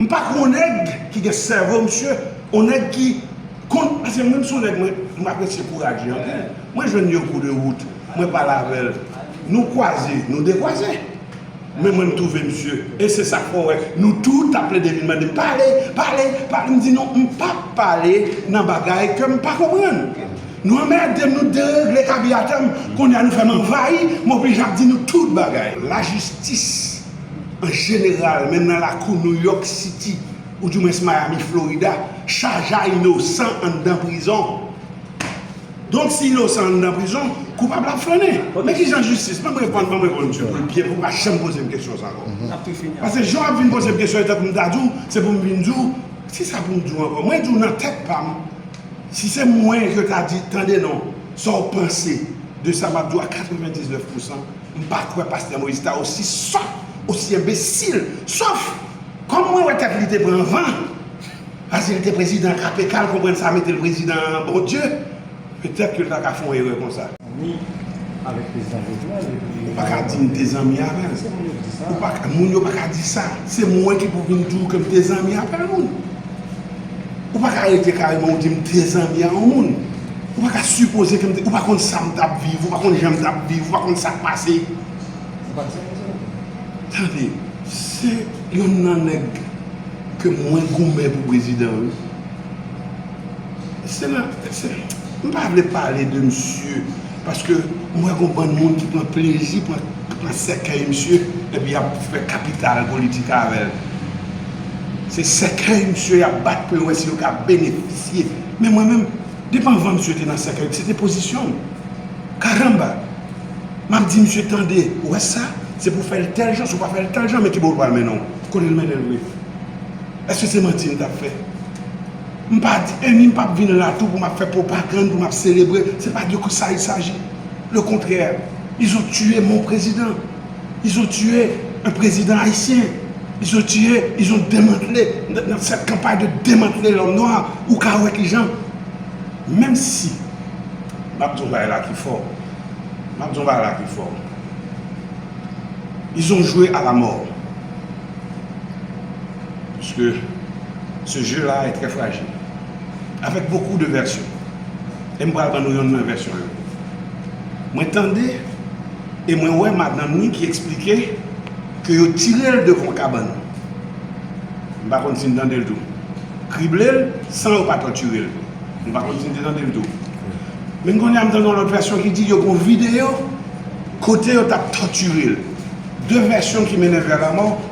M pa kon nèg ki gen sèvo msye on nèg ki konn paske mwen m son nèg m apresye kouraje anpil mwen jwenn yon kou de wout mwen pale avèl nou kwaze nou dekwaze men mwen m twouve msye e se sak fè w wè nou tout ap plede vin mande m pale pale pale m di non m pap pale nan bagay ke m pa konprann nou anmède m nou deregle kabyatè m kounye a nou fè m anvayi m oblije ap di nou tout bagay lajistis. An jeneral, menm nan lakou New York City, ou di mwens Miami, Florida, Shaja inosan anndan prizon. Donk si inosan anndan prizon, koupab la ap flannen. Men kijan jistis, banm reponn, banm reponn msye poul byen pou pa janm pozem kesyon sa ankò. Pase jan wap vin pozem kesyon etan poum ta diw, se poum vin diw, kisa poum diw ankò? Mwen diw nan tèt pam, si se mwen yo ta di tande non, sa w panse de sa map diw a 99 pousan? M pa kwè pastè Moïse ta osi sòt, osi enbesil, sof kòm mwen wè tèt li te pran van, paske li te prezidan KPK l konprann sa mete l prezidan an bon Dye, petèt ke l ta ka fon erè konsa. Ni avèk prezidan Jovenel epi Ou pa ka di m te zanmi avè l, se moun yo k di sa. Moun yo pa ka di sa, se mwen ki pou vin di w ke m te zanmi avè l moun. Ou pa ka arete kareman ou di m te zanmi a yon moun. Ou pa ka sipoze ke m te, ou pa konn sa m t ap viv, ou pa konn jan m t ap viv, ou pa konn sa k pase. Ou pa di sa konsa non. Tande, se yonn nan nèg ke mwen goumen pou prezidan wi. Se nan, se, m pa vle pale de misye. Paske mwen kon bann moun ki pran plezi pran sèkèy misye epi yap fè kapital politik avèl. Se sèkèy misye yap bat pou yo wè si yo ka benefisye. Men mwen menm, depi anvan misye te nan sèkèy, se te pozisyon m. Karanba! Map di misye tande, ou wè sa, se pou fèl tèl jan, si ou pa fèl tèl jan, men kibo l pral mennen w. Kote l mennen l vre? Eske se manti m tap fè? M pa di e ni m pap vin la tou pou m ap fè pwopagann, pou m ap selebre, se pa de sa il saji. Le kontrè, ils ont tué mon président, ils ont tué un président haïtien, ils ont tué, ils ont demantle, nan sèt kanpay de demantle lòm nwa, ou ka wè ki jan, menm si, m ap di yon bagay la ki fò, m ap di yon bagay la ki fò, ils ont joué à la mort. Puiske ce jeu la est très fragile avec beaucoup de version e m pral ban nou yonn nan vèsyon yo mwen tande e mwen wè madanm ni ki eksplike ke yo tire l devan yon kabann m pa konn si n tande l tou krible l san yo pa tòtire l m pa konn si n te tande l tou men kounye a m tande yon lòt vèsyon ki di yo gen yon videyo kote yo t ap tòtire l 2 vèsyon ki mennen vè lamò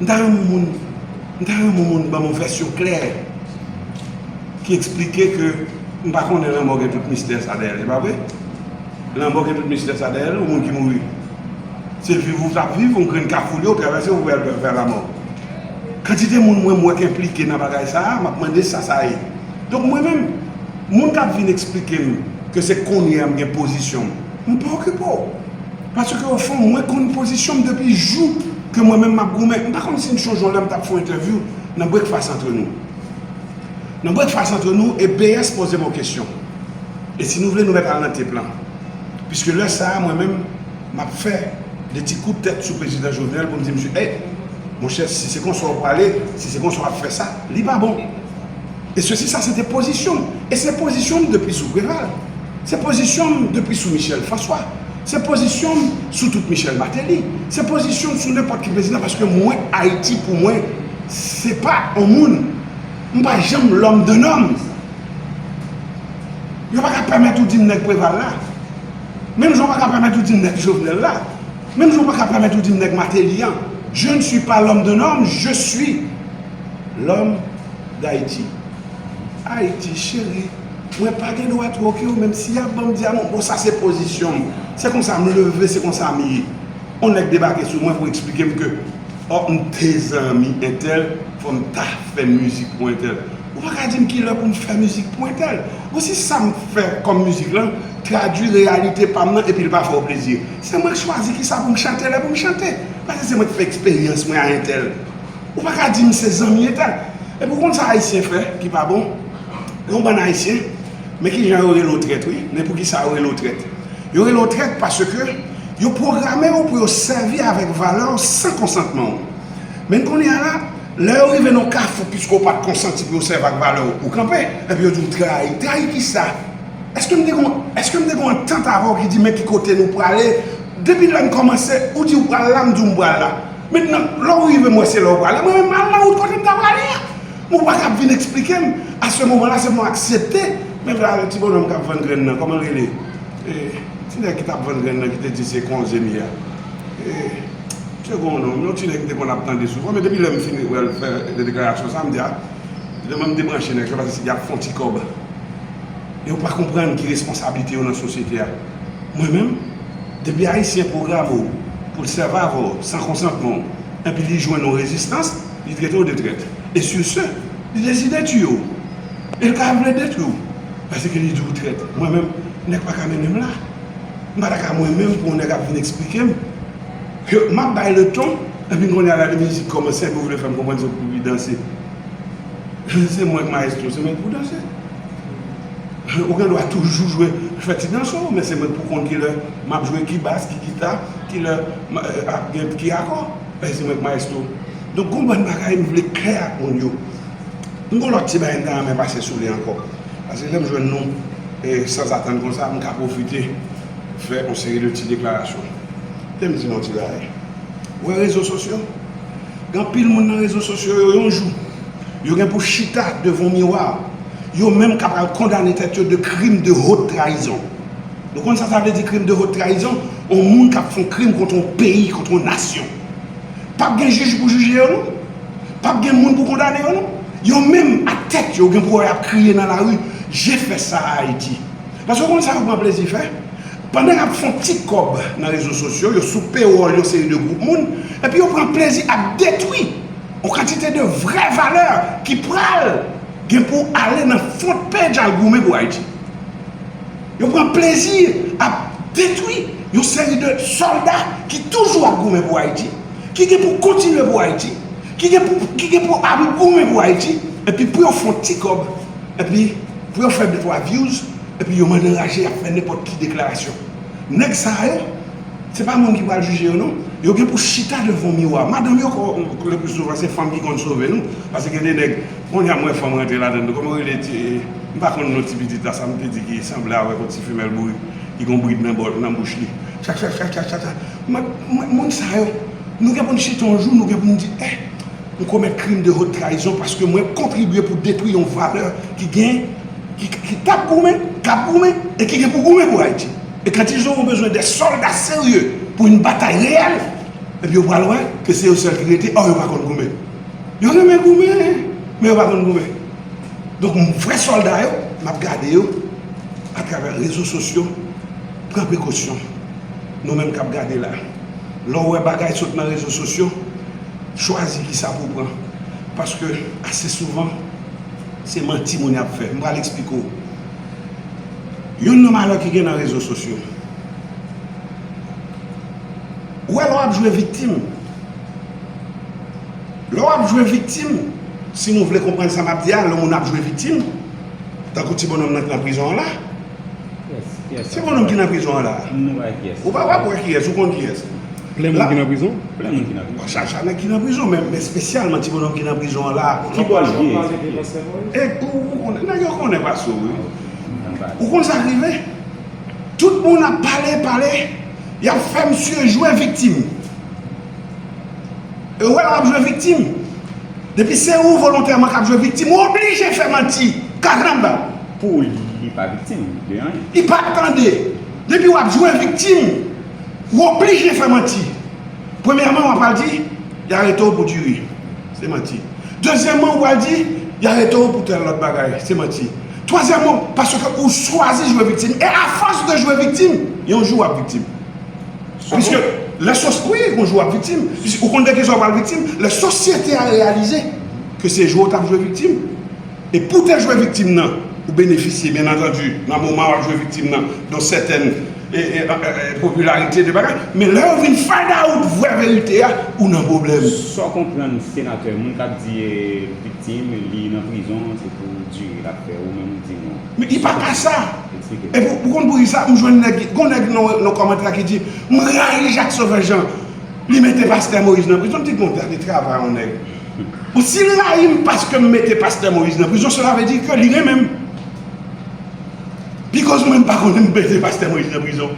M ta renmen moun m ta renmen moun banm yon vèsyon klè ki eksplike ke m pa konnen lanmò gen tout mistè sa dèyè l e pa vre? Lanmò gen tout mistè sa dèyè l yon moun ki mouri se viv ou tap viv yon grenn kafou li yo travèse ou al vè lamò kantite moun mwen m wè k enplike nan bagay sa a map mande sa sa ye donk mwen menm moun kap vin eksplike m ke se kounyè a m gen pozisyon m m pa okipe w. Paske o fon mwen konn pozisyon m depi jou ke mwen menm m ap goumen. M pa konn si m sonje yon lè m t ap fè yon entèvyou nan Brekfas antre nou. Nan Brekfas antre nou e BS poze m yon kesyon. E si nou vle nou mèt al nan tep lan. Piske lè sa a mwen menm m ap fè de ti kout tèt sou Prezidan Jovenel pou m di misye ey monchè si se konsa w prale, si se konsa w ap fè sa, li pa bon. E sesi sa se te pozisyon m. E se pozisyon m depi sou Preval. Se pozisyon m depi sou Michel François. Se pozisyon m sou tout Michel Martelly, se pozisyon m sou nenpòt ki prezidan paske mwen Ayiti pou mwen se pa yon moun, m pa janm lòm de nòm. Yo pa ka pèmèt ou di m nèg Preval la, menm jan yo pa ka pèmèt ou di m nèg Jovenel la, menm jan yo pa ka pèmèt ou di m nèg Martelly an. Je ne suis pas l'homme de norme, je suis l'homme d'Haïti. Ayiti cheri. Mwen pa gen dwa twoke w menm si y ap ban m dyaman. Bon sa se pozisyon m. Se konsa m leve, se konsa m ye. On nèg debake sou mwen pou eksplike m ke fò m te zanmi entèl, fò m ta fè mizik pou entèl. Ou pa ka di m ki lè pou m fè mizik pou entèl. Bon si sa m fè kòm mizik lan tradui reyalite pa m nan epi l pa fè w plezi. Se mwen k chwazi ki sa pou m chante, lè pou m chante. Paske se mwen k fè eksperyans mwen a entèl. Ou pa ka di m se zanmi entèl. Epi ou konn sa Ayisyen fè ki pa bon? Yon bann ayisyen men kijan yo rele w trèt wi men poukisa yo rele w trèt yo rele w trèt paske yo pwograme w pou yo sèvi avèk valè w san konsantman w men kounye a la lè yo rive nan yon kafou piske w pat konsanti pou yo sèvi ak valè w ou kanpe epi yo di w trayi trayi kisa èske m te gen èske m te gen antant avè w ki di men ki kote nou prale depi lè n kòmanse ou di w pral la m di w m pral la mentnan lè w rive m wè se la w prale mwen menm m al nan wout kote m ta prale a. Ou pa kab vin eksplikem, a se moman la se mwen aksepte, men vwale ti bonòm kap vann grenn nan, kòman l rele? E, ti nèg ki tap vann grenn nan ki te di se konze m ye a. E, msye gen yon non, yon ti nèg m te konn ap tande souvan, men depi lè m fin wè l fè deklarasyon sa, m di a, lè mwen m debranche nèg se paske yap fè yon ti kòb. Yo pa konprann ki responsablite yo nan sosyete a. Mwen menm, depi Ayisyen pwograme w pou l sèvav w san konsantman w, enpi li jwenn yon rezistans, Li trete w de trèt. E sur ce, li deside tiye w. E l ka vle detwi w. Paske li di w trèt. Mwen menm, nèg pa ka mennen m la. M pa ta ka mwen menm pou yon nèg ap vin esplike m. Ke m ap bay le ton. Epi kounye a la de mizik kòmanse epi w vle fè m konprann se w ki pou vin danse. Se mwen k maestro, se mwen ki pou danse. Ou gen dwa toujou jwe, fè ti danse w. Men se mwen k pou konn kilè m ap jwe, ki bas, ki gita, kilè, ak gen ki akò. Mèsi mwen maestro Nou gon bann bagay nou vle klè ak moun yo M gon lòt ti bagay m ta renmen pase sou li ankò Pase lè m jwenn nou sanzatann konsa m ka pwofite fè yon seri de ti deklarasyon Tè m di nou yon ti bagay Ou wè rezo sosyo Gen anpil moun nan rezo sosyo yo yon jou Yo gen pou chita devan yon miwa Yo menm ka pral kondane tèt yo de krim de hot trayizon Nou konn sa sa vle di crime de haute trahison? On moun kap fon krim kont on peyi, kont on nasyon. Pap gen jij pou jije yo non. Pap gen moun pou kondane yo non. Yo menm ak tèt yo gen pou wè yap kriye nan lari, je fè sa a Ayiti. Paske ou konn sa yo pran plezi fè? Pandan yap fon ti kòb nan rezo sosyo, yo sou pewòl yon seri de gwoup moun, epi yo pran plezi ap detwi on kantite de vrè valè ki pral gen pou ale nan front page al goumen pou Ayiti. Yo pran plezi ap detwi yon seri de sòlda ki toujou ap goumen pou Ayiti, ki gen pou kontinye pou Ayiti, ki gen pou ap goumen pou Ayiti, epi pou yo fè yon ti kòb, epi pou yo fè de twa vyouz, epi yo mande raje y ap fè nenpòt ki deklarasyon. Nèg sa yo, se pa moun ki pral jije yo non, yo gen pou chita devan yon miwa. Madanm yo, leplizsouvan se fanm ki konn sove nou, pase gen de nèg. Konnya m wè fanm rantre ladann tou kòman rele ti m pa konn non ti pitit la sa m te di ki sanble avèk yon ti femèl bourik ki gon brid nan bòl nan bouch li chachachachachata m ap mwen moun sa yo nou gen pou n chita yon jou nou gen pou n di eh m komèt krim de hot trayizon paske mwen kontribye pou detwi yon valè ki gen ki tap goumen k ap goumen e ki gen pou goumen pou Ayiti e kan tizon ou bezwen de sòlda serye pou yon batay reyèl epi yo pral wè ke se yo sèl ki rete ò yo pa konn goumen. Yo renmen goumen, men yo pa konn goumen. Donk vrè sòlda yo, m ap gade yo atravè rezo sosyo. Pran prekosyon, nou menm k ap gade la. Lè w wè bagay sot nan rezo sosyo, chwazi ki sa pou w pran. Paske ase souvan, se manti moun y ap fè. M pral esplike w. Youn nan malè ki gen nan rezo sosyo. Ou wè lè w ap jwe viktim. Lè w ap jwe viktim, si nou vle konprann sa m ap di a, lè moun ap jwe viktim, tankou ti bononm nan ki nan prizon an la, ti bononm ki nan prizon an la, ou pa wè pou kiyès, ou konn kiyès? Plen moun ki nan prizon? Plen moun ki nan prizon. Chak chak nèg ki nan prizon, men espesyalman ti bononm ki nan prizon an la. Ki bò l ye? E ou konnen, nèg yo konnen pa sou wi. Ou konn sa k rive? Tout moun ap pale, pale, y ap fè misye jwe viktim. E wè w ap jwe viktim. Depi se ou volontèman k ap jwe viktim, ou oblije fè manti. Karanba! Pou ou li pa viktim de anyen. Li pa tande. Depi w ap jwe viktim, ou oblije fè manti. Premyèman, w ap pral di, y arete w pou diri. Se manti. Dezyèman, ou pral di, y arete w pou tèl lòt bagay. Se manti. Twazyèman, paske ou chwazi jwe viktim. E afòs de jwe viktim, yon jou w ap viktim. Piske lè sos, wi gon jou wap viktim, piske ou konn de ki sa ou pral viktim, lè sosyete a reyalize ke se jwe ou tap jwe viktim, e pou te jwe viktim nan, ou benefisye byen antandi nan moman wap jwe viktim nan don sètèn popilarite de bagay, men lè yo vin find out vrè verite a, ou nan pwoblèm. Sa w konprann senatè, moun kap di viktim li nan prizon se pou dire lap fè, ou menm ou di non. Men e pa ka sa. Epi ou konn pou kisa m jwenn nèg, gon nèg nan kòmantè a ki di m rayi Jacques Sauveur Jean li mete pastè Moïse nan prizon m di bon gade travay yon nèg. Bon si l rayi m paske m mete pastè Moïse nan prizon sela vle di ke li renmen m. Pi koz mwen m pa konn m mete pastè Moïse nan prizon.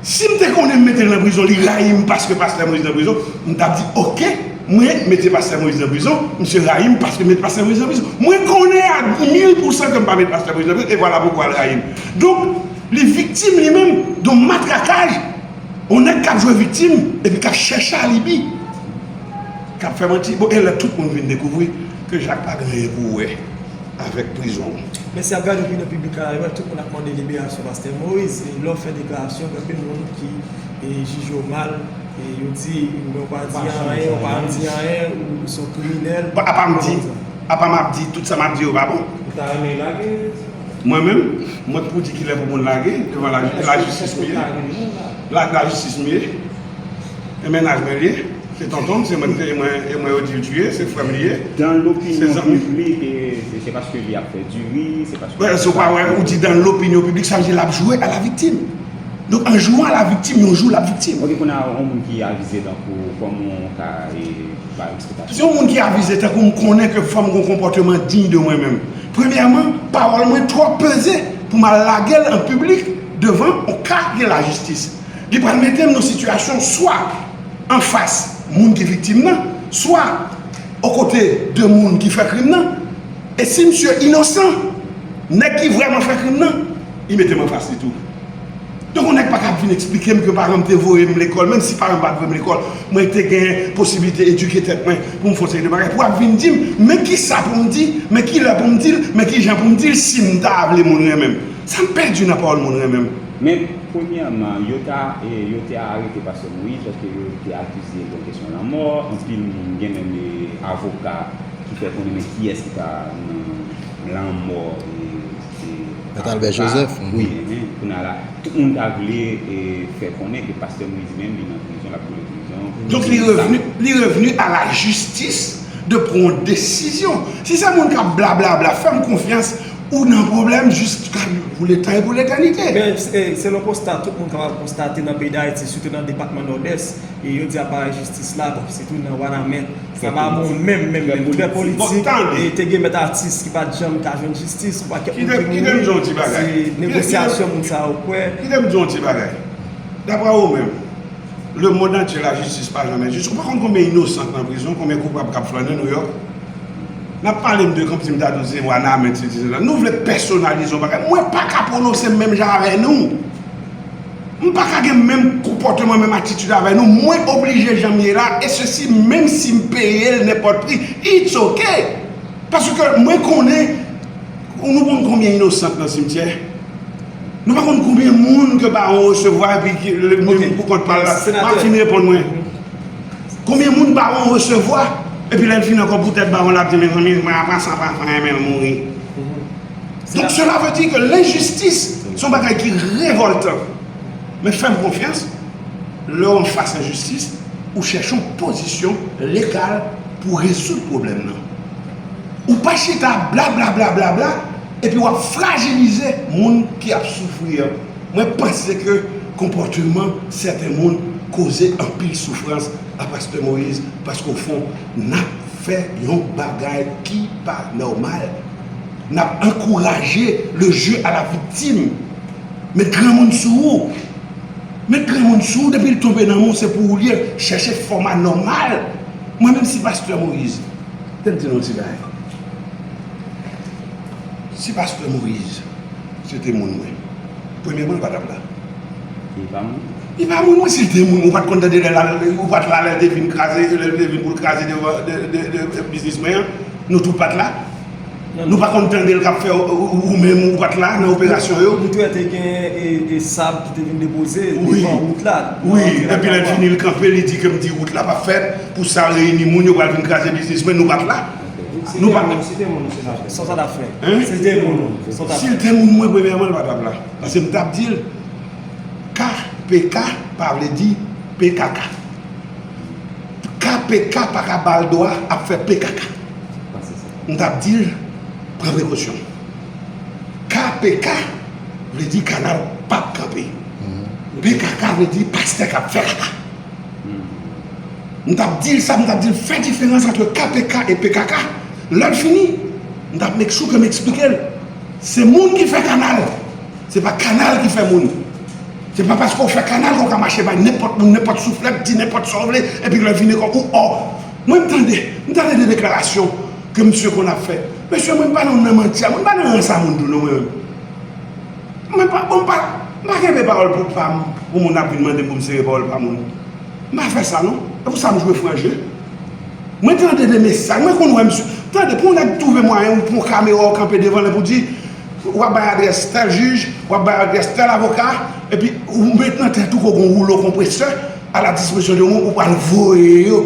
Sim te konnen m metel nan prizon li rayim paske pastè moise nan prizon m tap di ok mwen mete pastè moise nan prizon misye rayim paske met pastè moise nan prizon mwen konnen a mil pou san kem pa met pastè moise nan prizon e vwala poukwa l rayim donk li viktim li menm don matrakaj on nèg kap jwe viktim epi kap chèche alibi kap fè manti bon elè tout moun vin dekouvri ke jak pa gen anyen pou wè. avèk prizon an. Men si ap gade opinyon piblik la yo wè tout moun ap mande liberasyon pastè Moïse e lè w fè deklarasyon gen anpil moun ki jije w mal e yo di ou menm ou pa di anyen ou pa janm di anyen ou se yon kriminèl Apam di apam ap di tout sa map di yo pa bon Ou ta renmen yo lage Mwen menm mwen k pou di kilè pou moun lage devan lajistis m ye lajistis m ye. E mennaj mwen li ye, se tonton m, se mwen m te e mwen yo di l tuye, se frè m li ye. Dan lopinyon piblik e se paske li ap fè diri, se paske. Mwen sou pa wè ou di dan lopinyon piblik sa vle di l ap jwe a la viktim. Donk an jwe a la viktim yon jou l ap viktim. Ok kounye a yon moun ki avize tankou ou kòman ou ka e bay eksplikasyon. Yon moun ki avize tankou m konnen ke fò m gon konpòteman diy de mwen menm. Premyèman pawòl mwen twò peze pou m al lage l an piblik devan yon ka gen lajistis. Li pral mete m nan sitiyasyon swa anfas moun ki viktim nan, swa okote de moun ki fè krim nan. E si misye inosan, nèg ki vrèman fè krim nan, li mete m anfas li tou. Donk yon nèg pa kab vin eksplike m ke paran m te voye m lekòl, menm si paran m pa t voye m lekòl, mwen te gen posiblite edike tèt mwen pou m fè yon seri de bagay, pou ap vin di m, men kisa pou m di, men kilè pou m di l, men kijan pou m di l, si m ta vle moun renmen m. Sa m pèdi nan pawòl moun renmen m? Men, premyèman, yo ta yo te arete pastè Moïse paske yo te akize l yon kesyon lanmò, anpil moun, gen menm avoka ki fè konnen men kiyès ki ta nan lanmò Albert Joseph, wi, kounye a la, tout moun ta vle fè konnen ke pastè Moïse menm li nan prizon, l ap boule prizon. Donk li revni, li revni a la jistis de pran yon desizyon. Si se moun k ap blablabla, fè m konfyans, Ou nan pwoblèm jiska pou leta e pou letanite. Men, selon konsta tout moun kapab konstate nan peyi Dayiti, sitou nan depatman Nòdès, e yo di aparèy jistis la, bon, sitou nan Wanament, sa pa bon menm, menm, menm, trè politik, e te gen mèt atis ki pa t janm ka jwenn jistis, ou pa kèk moun ki mouri, se negosyasyon moun sa yo kwè. Kite m di w yon ti bagay. Daprè ou menm, lemond antye lajistis pa janmen jis. Ou pa konn konbyen inosan k nan prizon, konbyen koupab k ap flannen Nouyòk? Nap pale m de kanp dim dadou se wanament sesi sela nou vle pèsonalize yon bagay mwen paka pwononse m menm jan avè nou m paka gen menm konpòteman menm atitid avè nou mwen oblije janm ye la e sesi menm si m peye l nenpòt pri it's ok paske mwen konnen nou konn konbyen inosan k nan simtyè nou pa konn konbyen moun ke baron resevwa epi l mete l pou kont pa l la Martine reponn mwen. Konbyen moun bawon resevwa epi lèl fin ankò pou tèt bawon lap di mezanmi mwen apa sa pa fè anyen menl mouri donk sela vle di ke lenjistis son bagay ki revoltan men fèm konfyans lèw anfas enjistis ou chèche yon pozisyon legal pou rezoud pwoblèm nan ou pa chita blablablabla epi wap frajilize moun ki ap soufri an. Mwen panse ke konpòteman sèten moun koze anpil soufrans a Pastè Moïse paske o fon nap fè yon bagay ki pa nòmal. Nap ankouraje le jeu a la viktim. Met granmoun sou ou. Met granmoun sou ou depil tonbe nan men w se pou ou li ye. Chèche fòma nòmal. Mwen menm si Pastè Moïse. Kite m di nou yon ti bagay. Si Pastè Moïse. Si l te moun mwen. Premyeman l pa tap la. Li pa moun ou? Li pa moun mwen si l te moun mwen ou pat konn tande lè lal ou pat la lè l te vin kraze lè l te vin pou l kraze devan biznis mwen an nou tout pat la nou pa konn tande l kap fè ou menm ou pat la nan operasyon yo. Ou t wè te gen e sab ki te vin depoze devan wout la? Wi epi lè l fini l kanpe li di ke m di wout la pap fèt pou sa reyini moun yo pral vin kraze biznis mwen nou pat la. Nou pa menm. Si te moun ou se nan. Sa w tap fè. Hein? Si te moun ou. Sa w tap fè. Si l te moun mwen premyèman l pa tap la. Paske m tap di l K pk pa vle di pkk. K pk pa ka ba l dwa ap fè pkk. M tap di l pran prekosyon. K pk vle di kanal pap kanpe. Pkk vle di pastè kap fè kaka. M tap dil sa, m tap dil fè diferans antre KPK e pkk. Lèl fini, m tap make sure ke m eksplikel. Se moun ki fè kanal, se pa kanal ki fè moun. Se pa paske w fè kanal ke w ka mache bay nenpòt moun, nenpòt souflèt, di nenpòt sa w vle, epi lè vini kon ou ò. Mwen m tande, m tande de deklarasyon ke misye konn ap fè. Mesye mwen m pa nan manti a, mwen m pa nan ransa moun tou non mwen menm. Mwen pa bon pa m pa kenbe pawòl pou pa m pou moun ap vin mande m pou m sere pawòl pa moun m pa fè sa non e pou sa m jwe fran je mwen tande de mesaj mwen konn wè m sou tande pou yon nèg twouve mwayen ou pran kamera ou kanpe devan l epou di w ap bay adrès tèl jij w ap bay adrès tèl avoka epi ou met nan tèt ou ke w gen yon woulo konpresè a la dispozisyon de moun ou pral voye yo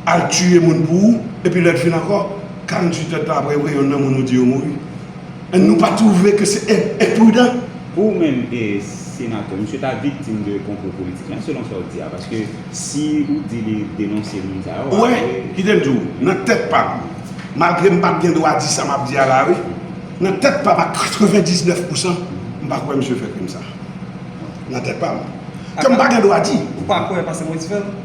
al tiye moun pou ou epi lè l fin ankò 48 èd tan aprè yo gen youn nan moun ou di yo mouri. Èn nou pa twouve ke se enprudan? Pou ou menm Senatè, misye ta viktim de konplo politik lan selon sa ou di a? Paske si ou di li denonse moun sa yo, apre. Ou wè, kite m di ou, nan tèt pa m, malgre m pa t gen dwa di sa m ap di a la a wi, nan tèt pa m ak 99 pousan, m pa kwè misye fè krim sa. Nan tèt pa m. Ke m pa gen dwa di. Ou pa kwè paske m wè ti fè l?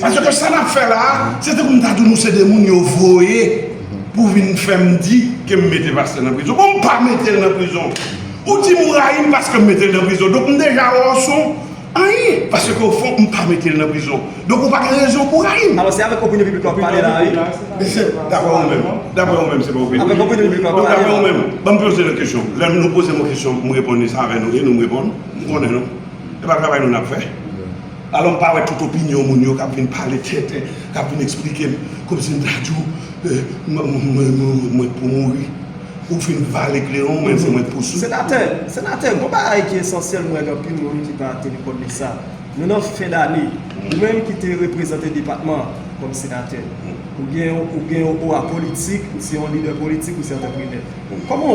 Pase ke sa nap fè la a, se tankou m ta di nou se de moun yo voye pou vin fè m di ke m mete pastè nan prizon. Bon m pa mete l nan prizon. Ou di m ou rayi m paske m mete l nan prizon. Donk m deja wè w son anyen. Pase ke ofon m pa mete l nan prizon. Donk ou pa gen rezon pou w rayi m. Alò se avèk opinyon piblik la wap pale la a wi. Daprè ou menm. Daprè ou menm se pa opinyon piblik. Avèk opinyon piblik la wap pale la. Donk daprè ou menm. Banm poze nou kesyon. Lè nou poze m yon kesyon m reponn li sa avè nou e nou m reponn. M konnen nou. E pa travay nou nap fè. Alò m pa wè tout opinyon moun yo k ap vin pale tenten, k ap vin eksplike m, kòmsi m ta di w mwen pou mouri. Ou fin vale kleron w men se mwen k pou sou. Senatè, senatè, gon bagay ki esansyèl m wè nan anpil moun ki pa teni kont de sa. Nou nan fen dane. Ou menm ki te reprezante depatman an kòm senatè, ou gen yon owa politik, ou se yon lidè politik, ou se antreprenè. Kòman w.